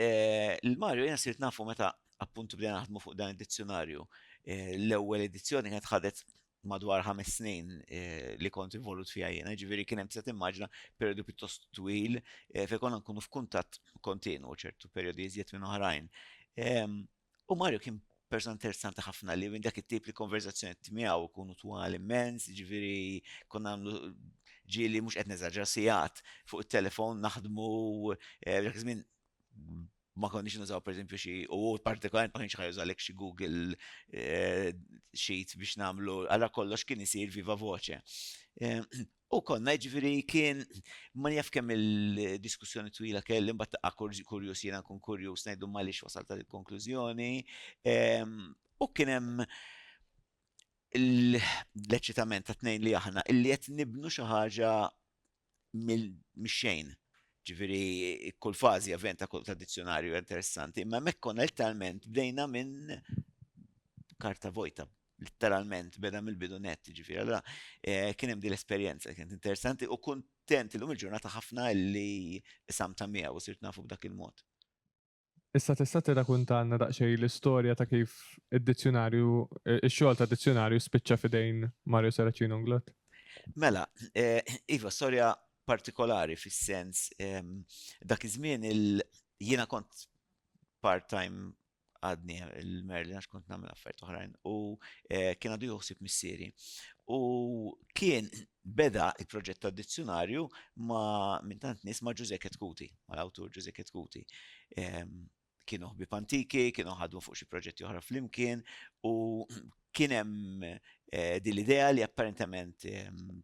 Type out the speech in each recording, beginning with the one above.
Il-Mario jena sirt nafu meta appuntu bdejna naħdmu fuq dan id-dizzjonarju. Eh, l-ewwel edizzjoni kienet ħadet madwar ħames snin eh, li kont involut fija jena, ġiviri kien hemm se timmaġna periodu pjuttost twil eh, fejn konna nkunu f'kuntatt kontinu ċertu perjodi iżjed minn oħrajn. Ehm, U Mario kien persona interessanti ħafna li minn dak it-tip li konverzazzjoni tmiegħu kunu twal immens, ġifieri konna nagħmlu ġieli mhux qed neżaġġa sigħat fuq it-telefon naħdmu eh, dak żmien ma konniex nużaw pereżempju xi u partikolarment ma kienx ħajużalek xi Google eh, Sheet biex nagħmlu għala kollox kien isir viva voce. Eh, U konna, jiġifieri kien, ma jaf kemm il-diskussjoni twila kelli, mbagħad taqqa' kur- kurjuż jiena nkun kurjuż ngħidlhom għaliex wasalt għal il-konklużjoni. Ehm, U kien hemm l- l-eċitament ta' tnejn li aħna illi qed nibnu xi ħaġa mill- mix-xejn. Ġifieri kull fażi event ta' kull ta' dizzjonarju interessanti, imma hemmhekk konna letteralment bdejna minn karta vojta, Litteralment, beda mill-bidu net, ġifiri. Allora, eh, kien hemm din l-esperjenza, kienet interessanti u kuntent illum il-ġurnata ħafna li sam ta' miegħu u sirt nafu b'dak il-mod. Issa tista' tirrakuntanna daqsxejn l-istorja ta' kif id-dizzjonarju, eh, ix-xogħol ta' dizzjonarju spiċċa fidejn Mario Saracino Unglot? Mela, eh, iva, storja partikolari fis-sens ehm, dak iż-żmien il jiena kont part-time għadni il-Merlin għax kont nagħmel affarijiet oħrajn u eh, kien għadu juħsib missieri. U kien beda il-proġett ta' dizzjonarju ma' minn tant nies ma' Ġużek Ketkuti, ma' l-awtur Ġużek Ketkuti. Ehm, kienu ħbib antiki, kienu ħadmu fuq xi proġetti oħra flimkien u kien hemm eh, din l-idea li apparentement ehm,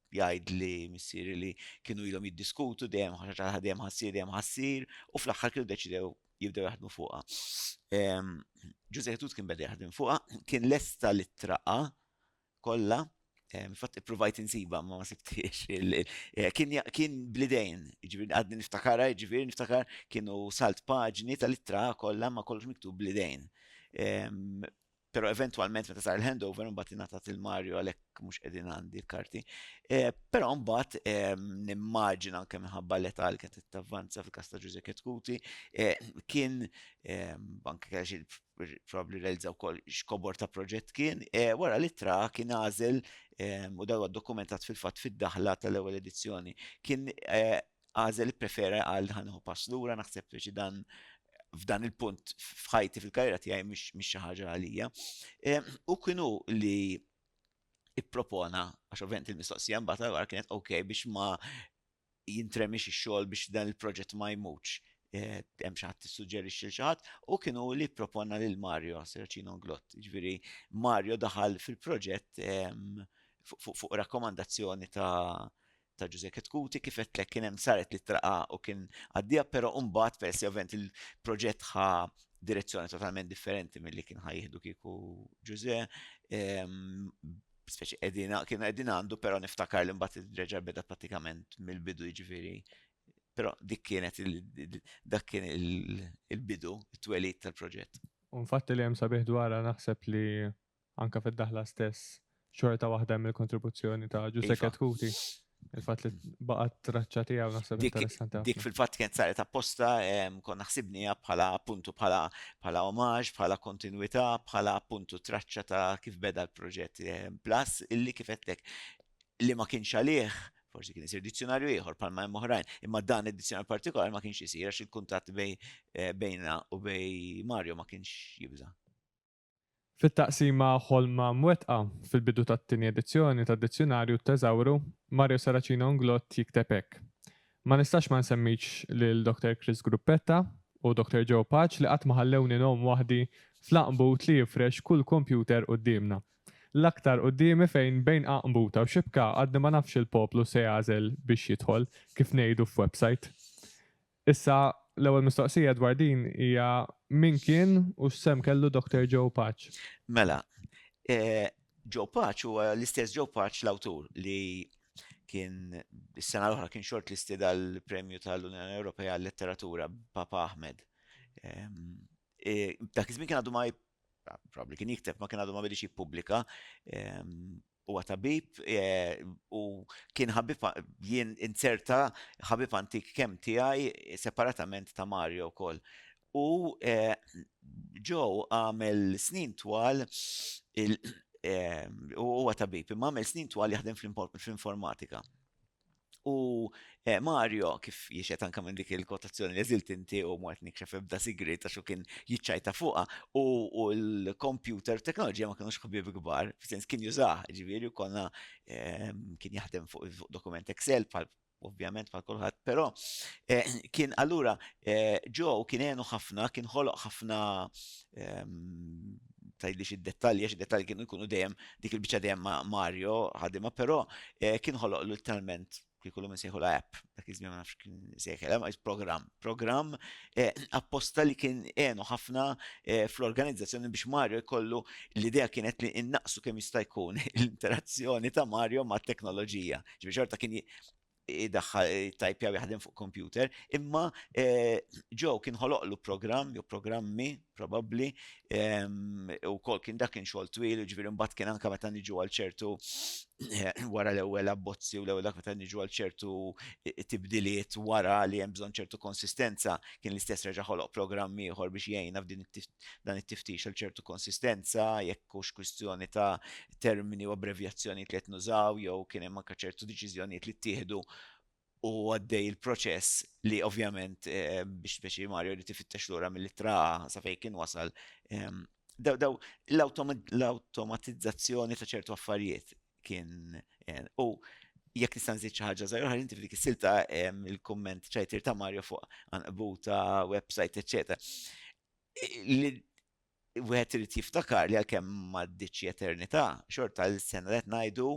jgħid li missieri li kienu ilhom jiddiskutu dejjem ħaġa ħadem ħassir dejjem ħassir u fl-aħħar kienu deċidew jibdew jaħdmu fuqha. Ġuże Hetut kien beda jaħdem fuqha, kien lesta li traqa kollha, fatt provajt insiba ma ma sibtiex. Eh, kien blidejn, ġivir għadni niftakara, ġivir niftakar kienu salt paġni tal-ittra kollha ma kollox miktub blidejn. Pero eventualment meta sar il-handover mbagħad ingħatat il Mario għalhekk mhux qegħdin għandi l-karti. Eh, però mbagħad ehm, nimmaġina anke minħabba l età li kienet tavvanza fil-każ ta' Ġuże Ketkuti eh, kien ehm, anke kellha probabli realizzaw kol xkobor ta' proġett kien, eh, wara li tra kien għażel ehm, u dawa dokumentat fil-fatt fid-daħla tal-ewwel edizzjoni. Kien għażel ipprefera għal ħa nieħu pass lura naħseb li dan f'dan il-punt f'ħajti fil-karriera tiegħi mhix xi ħaġa għalija. U kienu li ippropona għax ovvent il-mistoqsija mbagħad għar kienet ok biex ma jintremix ix-xogħol biex dan il-proġett ma jmutx eh, hemm xi ħadd tissuġġerixxi xi ħadd u kienu li proponna lil Mario Sercino Glott. Ġifieri Mario daħal fil-proġett fuq rakkomandazzjoni ta' ta' Ġużè Chetcuti kif għedtlek kien hemm saret l-ittra A u kien għaddieha però mbagħad peress li ovvjament il-proġett ħa direzzjoni totalment differenti milli kien ħa jieħdu kieku Ġużè speċi qegħdina kien qegħdin għandu però niftakar li mbagħad reġa' beda pratikament mill-bidu jiġifieri però dik kienet dak kien il-bidu it-twelid tal-proġett. Unfatt li hemm sabiħ dwarha naħseb li anke fid-daħla stess, xorta waħda hemm il-kontribuzzjoni ta' Ġużek iva. Kuti. Il-fat li baqgħet traċċa tiegħu naħseb interessanti. Dik fil-fatt kienet saret apposta kon naħsibnija bħala appuntu bħala bħala omaġ, bħala kontinwità, bħala appuntu traċċa ta' kif beda l-proġett plus illi kif qedlek li ma kienx għalih forsi kien isir dizzjonarju ieħor palma hemm oħrajn, imma dan id-dizzjonarju partikolari ma kienx isir għax il-kuntatt eh, bejna u bej Mario ma kienx jibża'. Fit-taqsima Ħolma Mwettqa, fil-bidu tat-tieni edizzjoni tad-Dizzjunarju t-Teżawru, Mario Saracino Nglott jikteb hekk, Ma nistax ma nsemmix lil Dr. Chris Gruppetta u Dr. Joe Paċ li qatt ma ħallewni ngħum waħdi fl-għaqnbut li jifrex kull kompjuter quddiemna. L-aktar quddiemi fejn bejn għaqnbuta u xibka għadni ma nafx il-poplu se jagħżel biex jidħol, kif ngħidu f'websajt. Issa, l-ewwel mistoqsija dwar din hija min kien u x'sehem kellu Dr. Joe Paċ? Mela, Joe Paċ huwa l-istess Joe Paċ l-awtur li kien is-sena l-oħra kien xort listed għall-Premju tal-Unjoni Ewropea għal-Letteratura Papa Ahmed. E, dak iż-żmien kien għadu ma probabli kien jikteb ma kien għadu ma bidix jippubblika Huwa tabib u kien ħabib jien inzerta ħabib antik kemm tiegħi separatament ta' Mario wkoll. U Joe għamel snin twal huwa tabib imma għamel snin twal jaħdem fl-informatika. U eh, Mario, kif jiexet anka minn dik il-kotazzjoni li zilt inti u mwet nikxef ebda sigrit għax kien jiċċajta fuqa u l-computer teknoloġija ma kienux xħbib kbar, f'sens kien jużah, ġiviri, konna eh, kien jaħdem fuq dokument Excel pal ovvjament pal kulħadd, però eh, kien allura ġo kien għenu ħafna, kien ħoloq ħafna ehm, tgħidlix id-dettalji għax id-dettalji kienu jkunu dejjem dik il-biċċa dejjem ma' Mario ħadimha, però eh, kien ħoloq l-talment kieku l sejħu la app, dak iż-żmien ma nafx kien sejħel, eh, ma program, program eh, apposta li kien għenu ħafna fl-organizzazzjoni biex Mario jkollu l-idea kienet li innaqsu kemm jista' jkun l-interazzjoni ta' Mario ma' teknoloġija. Ġifieri xorta kien idaħħal it-tajpjar jaħdem fuq kompjuter, imma Joe kien ħoloqlu programm jew programmi probabbli wkoll kien dak kien xogħol twil, jiġifieri mbagħad kien anke meta niġu għal ċertu wara l-ewwel abbozzi u l-ewwel dak meta niġu għal ċertu tibdiliet wara li hemm bżonn ċertu konsistenza, kien l-istess reġa' ħoloq programm ieħor biex jgħinna f'dan it-tiftix għal ċertu konsistenza, jekk hux kwistjoni ta' termini u abbrevjazzjonijiet li qed nużaw jew kien hemm anke ċertu deċiżjonijiet li ttieħdu u għaddej il-proċess li ovvjament biex speċi Mario li tifittex lura mill-ittra sa fejn kien wasal daw l-awtomatizzazzjoni ta' ċertu affarijiet kien u jekk nista' nżid xi ħaġa żgħira ħalli f'dik is-silta il-kumment ċajtir ta' Mario fuq anqbuta, website, eċċetera. Wieħed irid jiftakar li għalkemm m'għaddietx xi eternità, xorta l-sena li qed ngħidu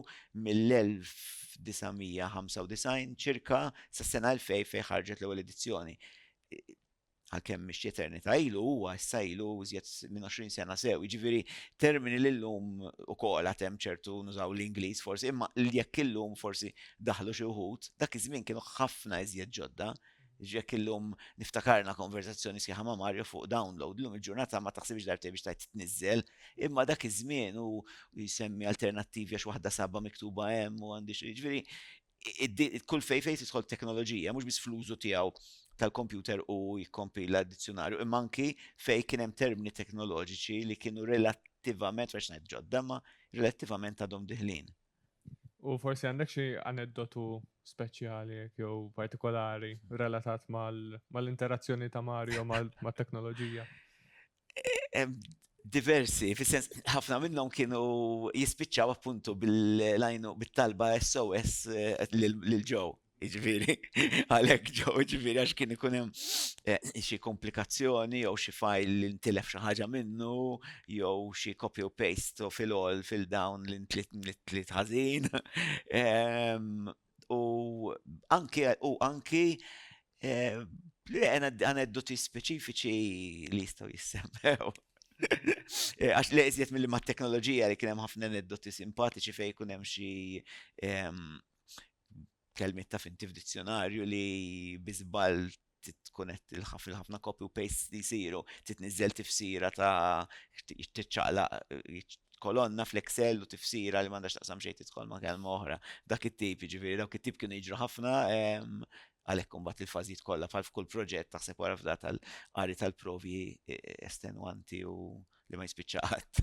mill-1995 ċirka sas-sena 2000 fejn ħarġet l-ewwel edizzjoni, għalkemm mhix xi eternità ilu, huwa issa ilu iżjed minn 20 sena sew. Jiġifieri termini li llum ukoll għad hemm ċertu nużaw l-Ingliż forsi, imma jekk illum forsi daħlu xi wħud, dak iż-żmien kienu ħafna iżjed ġodda. Jekk illum niftakarna konversazzjoni sħiħa ma' Mario fuq download, illum il-ġurnata ma taħsibx darbtejn biex tgħid tniżżel, imma dak iż-żmien u jsemmi alternattivi għax waħda sabha miktuba hemm u għandi xi ġifieri kull fejn fejn tidħol teknoloġija mhux biss fl-użu tiegħu tal-kompjuter u jikkompila d-dizzjonarju, imma anki fejn kien hemm termini teknoloġiċi li kienu relattivament għax ngħid ġodda, imma relattivament għadhom diħlin. U forsi għandek xi aneddotu speċjali jew partikolari relatat mal-interazzjoni ta' Mario mal-teknoloġija? Diversi, fis-sens ħafna minnhom kienu jispiċċaw appuntu bil-talba SOS lil ġew. Ġviri, għalek ġo, ġviri, għax kien ikun hemm eh, xi komplikazzjoni jew xi fajl li ntilef xi ħaġa minnu jew xi copy u paste u fil-all fil-down li ntlit ntlit ħażin. U anki u anki eh, li għaneddu ti speċifiċi li jistaw jissemmew. Eh, għax li jizjet mill-ma teknoloġija li kienem ħafna neddoti simpatiċi fej kunem xie kelmiet taf inti f'dizzjonarju li bi żball tkun qed il-ħafna copy u paste li jsiru, titniżżel tifsira ta' tiċċaqlaq kolonna fl-Excel u tifsira li m'għandax taqsam xejn tidħol ma' kelma oħra. Dak it-tip, jiġifieri dawk it-tip kienu jiġru ħafna għalhekk imbagħad il-fażijiet kollha bħal f'kull proġett taħseb wara f'da tal-qari tal-provi estenwanti u li ma jispiċċa qatt.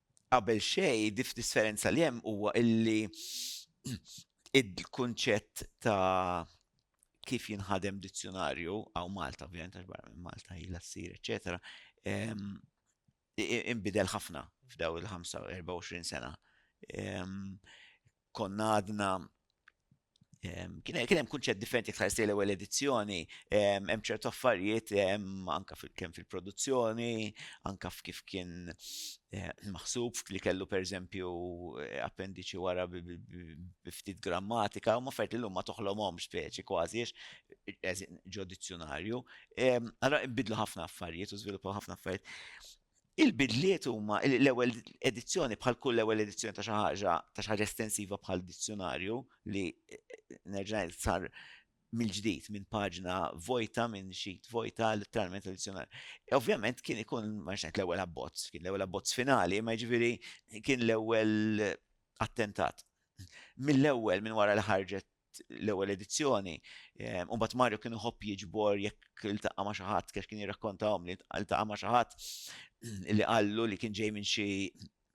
Qabel xejn, differenza li hemm huwa illi il-kunċett ta' kif jinħadem dizzjonarju, għaw Malta, ovvijament, għax barra minn Malta jila s-sir, eccetera, imbidel ħafna f'daw il-24 sena. konna għadna kien hemm kunċett differenti iktar sejl ewwel edizzjoni, hemm ċertu affarijiet anka kemm fil-produzzjoni, anka f'kif kien eh, maħsub li kellu pereżempju eh, appendiċi wara biftit grammatika, u maffert li l-lum ma toħlomhom speċi kważi ġo dizzjonarju. Allora bidlu ħafna affarijiet u żviluppaw ħafna affarijiet. Il-bidliet huma li l-ewwel edizzjoni bħal kull ewwel edizzjoni ta' xi ħaġa ta' xi ħaġa estensiva bħal dizzjunarju li nerġa' ngħid sar mill-ġdid minn paġna vojta minn xit vojta letteralment tradizzjonali. Ovvjament kien ikun ma ngħid l-ewwel abbozz, kien l-ewwel abbozz finali, ma jiġifieri kien l-ewwel attentat. Mill-ewwel minn wara li ħarġet l-ewwel edizzjoni. Ehm, u mbagħad Mario kien iħobb jiġbor jekk iltaqa' ma' xi ħadd kif kien jirrakkontahom li iltaqa' ma' xi ħadd li qallu li kien ġej minn xi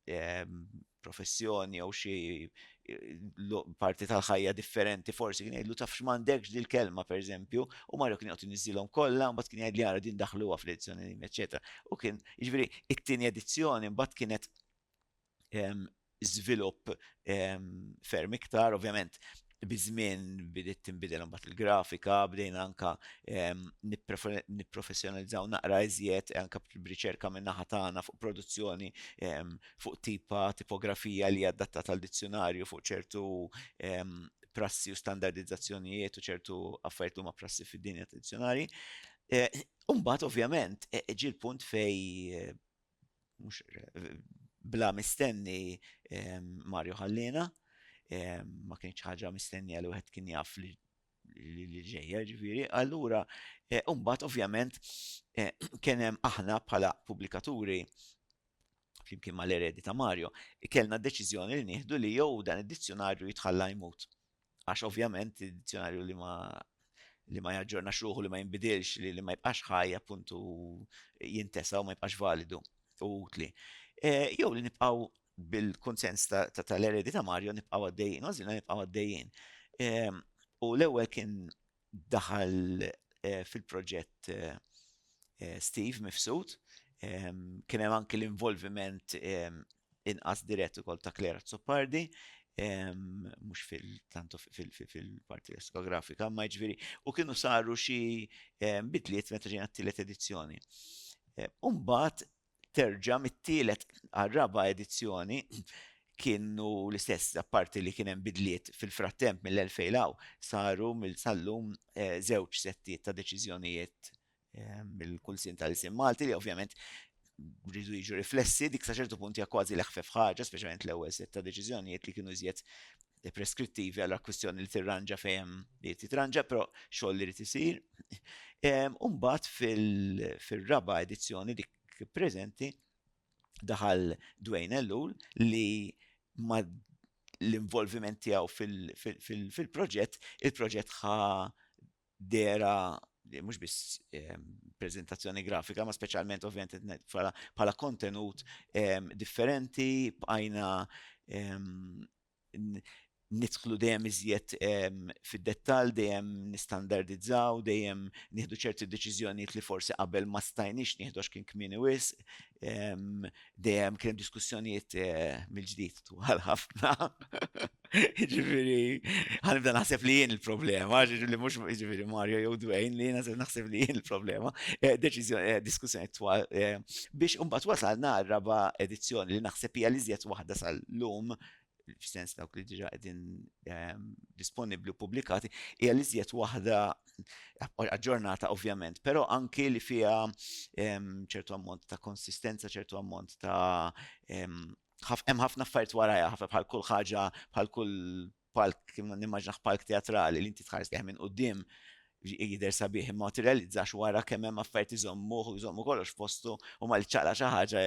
ehm, professjoni jew xi parti tal-ħajja differenti forsi kien jgħidlu taf x'mandekx dil kelma pereżempju u Mario kien joqgħod niżilhom kollha mbagħad kien jgħidli ara din daħluha fl-edizzjoni eċetera. U kien jiġri it-tieni edizzjoni mbagħad kienet żvilupp ferm iktar. Ovvjament, biż-żmien bidiet tinbidel imbagħad il-grafika, bdejna anke nipprofessjonalizzaw naqra iżjed anke b'riċerka min-naħa tagħna fuq produzzjoni, fuq tipa, tipografija li hija adattata għal dizzjunarju, fuq ċertu prassi u standardizzazzjonijiet u ċertu affarijiet li huma prassi fid-dinja tad-dizzjunarji. U mbagħad, ovvjament, ġie l-punt fejn mhux bla mistenni Mario ħallina, ma kienx ħaġa mistenni għal wieħed kien jaf li li ġejja ġifiri, allura e, umbat ovvjament e, kienem aħna bħala publikaturi flimkien ma l-eredi ta' Mario, kellna deċiżjoni li nieħdu li jew dan id-dizzjonarju jitħalla jmut. Għax ovvjament id-dizzjonarju li ma li ma jaġġornax ruħu li ma jinbidilx li, li ma jibqax ħaj appuntu jintesa u ma jibqax validu u utli. E, jew li nibqaw bil-konsens tal-eredi ta' Mario nibqaw għaddejjin, għazina nibqaw għaddejjin. E, u l-ewwel kien daħal fil-proġett Steve Mifsud, kien hemm anki l-involviment inqas dirett ukoll ta' Claire Azzopardi, mhux fil-tantu fil-parti diskografika, imma jiġifieri u kienu saru xi bidliet meta ġejna t-tielet edizzjoni. Imbagħad terġa' mit-tielet għar-raba' edizzjoni kienu l-istess, apparti li kien hemm bidliet fil-frattemp mill-2000 'l hawn, saru sal-lum żewġ settijiet ta' deċiżjonijiet mill-Kunsill tal-Ilsien Malti li ovvjament rridu jiġu riflessi, dik sa ċertu punt hija kważi l-eħfef ħaġa, speċjalment l-ewwel sett ta' deċiżjonijiet li kienu iżjed preskrittivi għal akkwistjoni li tirranġa fejn li titranġa, però xogħol li isir. Umbat fil-raba edizzjoni dik preżenti daħal Dwayne Ellul li ma l-involviment tiegħu fil-proġett, il-proġett ħa dera mhux biss prezentazzjoni grafika, ma speċjalment ovvjament bħala kontenut differenti, bqajna nidħlu dejjem iżjed fid-dettall, dejjem nistandardizzaw, dejjem nieħdu ċerti deċiżjonijiet li forsi qabel ma stajniex nieħdu għax kien kmieni wisq, dejjem kien hemm diskussjonijiet mill-ġdid twal ħafna. Jiġifieri, ħa nibda naħseb li jien il-problema, jiġifieri mhux jiġifieri Mario jew Dwayne li jiena se naħseb li jien il-problema, diskussjonijiet twal Biex imbagħad wasalna għar-raba' edizzjoni li naħseb hija l-iżjed waħda sal-lum, f'sens dawk li diġà qegħdin disponibbli u ppubblikati, hija l-iżjed waħda aġġornata ovvjament, però anki li fiha ċertu ammont ta' konsistenza, ċertu ammont ta' hemm ħafna affarijiet warajha, ħafna bħal kull ħaġa, bħal kull palk, nimmaġnaħ palk teatrali li inti tħares lejh minn quddiem jidher sabiħ imma tirrealizzax wara kemm hemm affarijiet iżommuh u jżommu kollox postu u ma li ċaqla xi ħaġa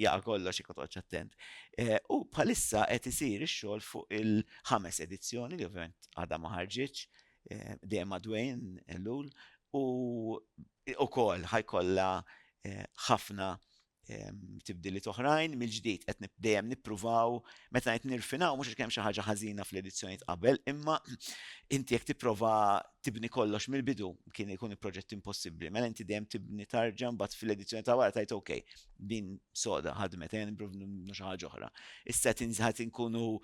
jaqa' kollox jekk toqgħodx attent. Eh, u bħalissa qed isir ix-xogħol fuq il-ħames edizzjoni li ovvjament għadha ma ħarġitx eh, dejjem madwejn lul u ukoll ħajkollha eh, ħafna tibdiliet oħrajn, mill-ġdid qed dejjem nippruvaw meta qed nirfinaw mhux għax kemm xi ħaġa ħażina fl-edizzjonijiet qabel, imma inti jekk tipprova tibni kollox mill-bidu kien ikun proġett impossibbli. Mela inti dejjem tibni tarġa mbagħad fil-edizzjoni ta' wara tajt ok, din soda ħadmet għen xi ħaġa oħra. Issa tinżħat inkunu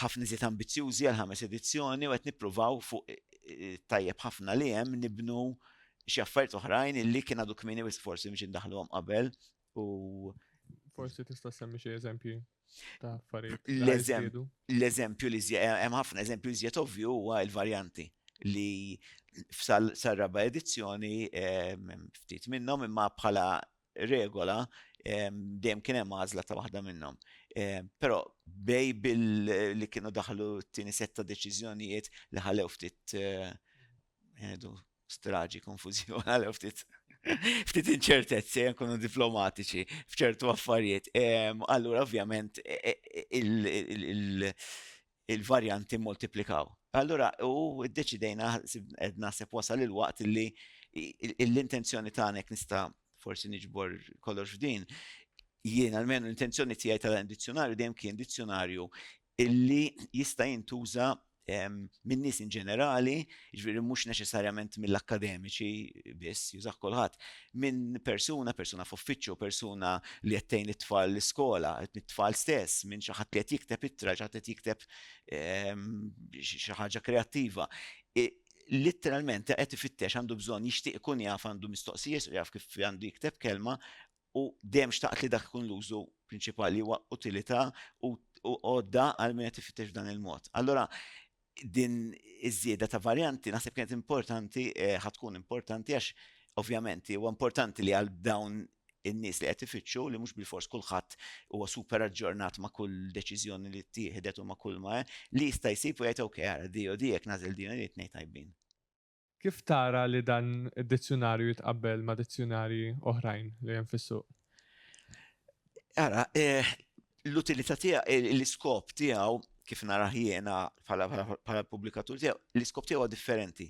ħafna iżjed ambizzjużi għal ħames edizzjoni u qed nippruvaw fuq tajjeb ħafna li hemm nibnu xi affarijiet oħrajn illi kien għadu kmieni wis forsi biex indaħluhom qabel u Forsi tista' semmi xi eżempji ta' affarijiet. L-eżempju li eh, hemm ħafna eżempju li żjed ovvju huwa l-varjanti li sal-raba edizzjoni eh, ftit minnhom imma bħala regola dejjem kien hemm għażla ta' waħda minnhom. Però bej billi kienu daħlu t-tieni setta deċiżjonijiet li ħalew ftit eh, straġi, konfużjoni, ħalew ftit ftit inċertezzi, jkunu diplomatiċi fċertu affarijiet. Allura, ovvjament, e, e, e, il-varjanti mmultiplikaw. Allura, u ddeċidejna, qed naħseb wasal il-waqt li l-intenzjoni tagħna jekk nista' forsi niġbor kollox f'din, jien almenu l-intenzjoni tiegħi ta' dan id-dizzjunarju dejjem kien dizzjunarju li jista' jintuża minn nies in ġenerali, jiġifieri mhux neċessarjament mill-akkademiċi biss, jużah kulħadd, minn persuna, persuna f'uffiċċju, persuna li qed tgħin it-tfal l-iskola, it-tfal stess, minn xi ħadd li qed jikteb ittra, xi ħadd qed jikteb ehm, xi ħaġa kreattiva literalment qed ifittex għandu bżonn jixtieq ikun jaf għandu mistoqsijiet u jaf kif għandu jikteb kelma u dem xtaqt li dak kun l-użu prinċipali huwa utilità u għodda għal min qed ifittex dan il-mod. Allora, Din iż-żieda ta' varjanti naħseb kienet importanti, ħa tkun importanti għax ovvjament huwa importanti li għal dawn in-nies li qed ifittxu li mhux bilfors kulħadd huwa super aġġornat ma' kull deċiżjoni li ttieħdet u ma' kull ma li jista' jsib u jgħid ok ara di u di jekk nagħżel din u din it-tnejn tajbin. Kif tara li dan id-dizzjunarju jitqabbel ma' dizzjunarji oħrajn li hemm fis-suq? Ara, l-utilità tiegħu, l-iskop tiegħu, kif narah jiena bħala l-pubblikatur tiegħu, l-iskop tiegħu huwa differenti.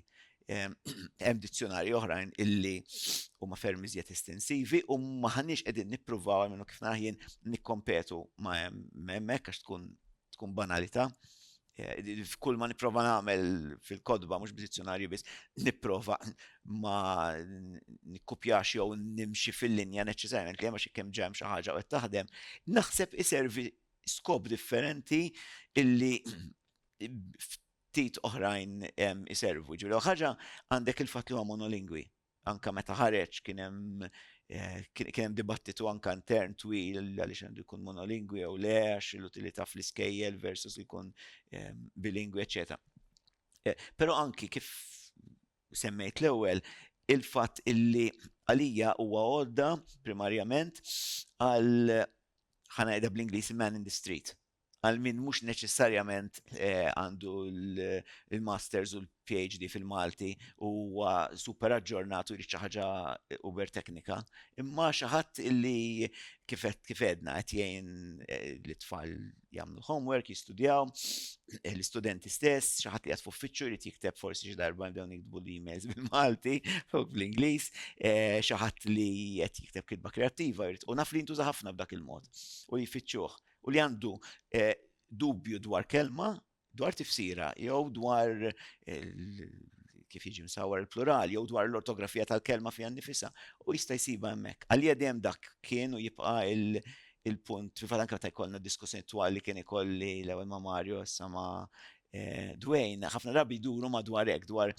Hemm dizzjunarji oħrajn illi huma ferm iżjed estensivi u m'aħniex qegħdin nippruvaw, almenu kif narah jien, nikkompetu ma' hemmhekk għax tkun banalità. Kull ma nipprova nagħmel fil-kodba mhux b'dizzjonarju biss, nipprova ma nikkupjax jew nimxi fil-linja neċċessarjament li hemm għax ikkemm ġemm xi ħaġa qed taħdem, naħseb iservi skop differenti illi ftit oħrajn iservu. Ġifieri l-ewwel ħaġa għandek il-fatt li huwa monolingwi. anka meta ħareġ kien hemm eh, kien hemm dibattitu anka intern twil għaliex għandu jkun monolingwi jew le għax l-utilità fl-iskejjel versus jkun eh, bilingwi eċetera. Eh, però anki kif semmejt l-ewwel il-fatt illi għalija huwa għodda primarjament għal ħanajda bl-Ingliż man in the street, għal min mhux neċessarjament għandu l-Masters u l-PhD fil-Malti u huwa super aġġornat u jrid xi ħaġa uber teknika, imma xi ħadd illi kif għedna qed jgħin lit-tfal jagħmlu l-homework, jistudjaw, l-istudenti stess, xi ħadd li qed f'uffiċċju jrid jikteb forsi xi darba bdew jiktbu l-emails bil-Malti u bl-Ingliż, xi ħadd li qed jikteb kitba kreattiva jrid u naf li jintuża ħafna b'dak il-mod u jfittxuh. u li għandu dubju dwar kelma, dwar tifsira, jew dwar kif jiġi msawar il-plural, jew dwar l-ortografija tal-kelma fija nifisa, u jista' jsiba hemmhekk. Għalija dejjem dak kien u jibqa' il-punt, fil-fatt anke meta jkollna diskussjoni twal li kien ikolli l-ewwel ma' Mario, issa ma' Eh, Dwayne, ħafna drabi jduru madwar hekk dwar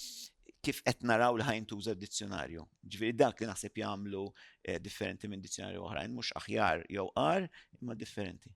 kif qed naraw li ħajn tuża d-dizzjonarju. Ġifieri dak li naħseb jagħmlu eh, differenti minn dizzjonarju oħrajn, mhux aħjar jew qar, imma differenti.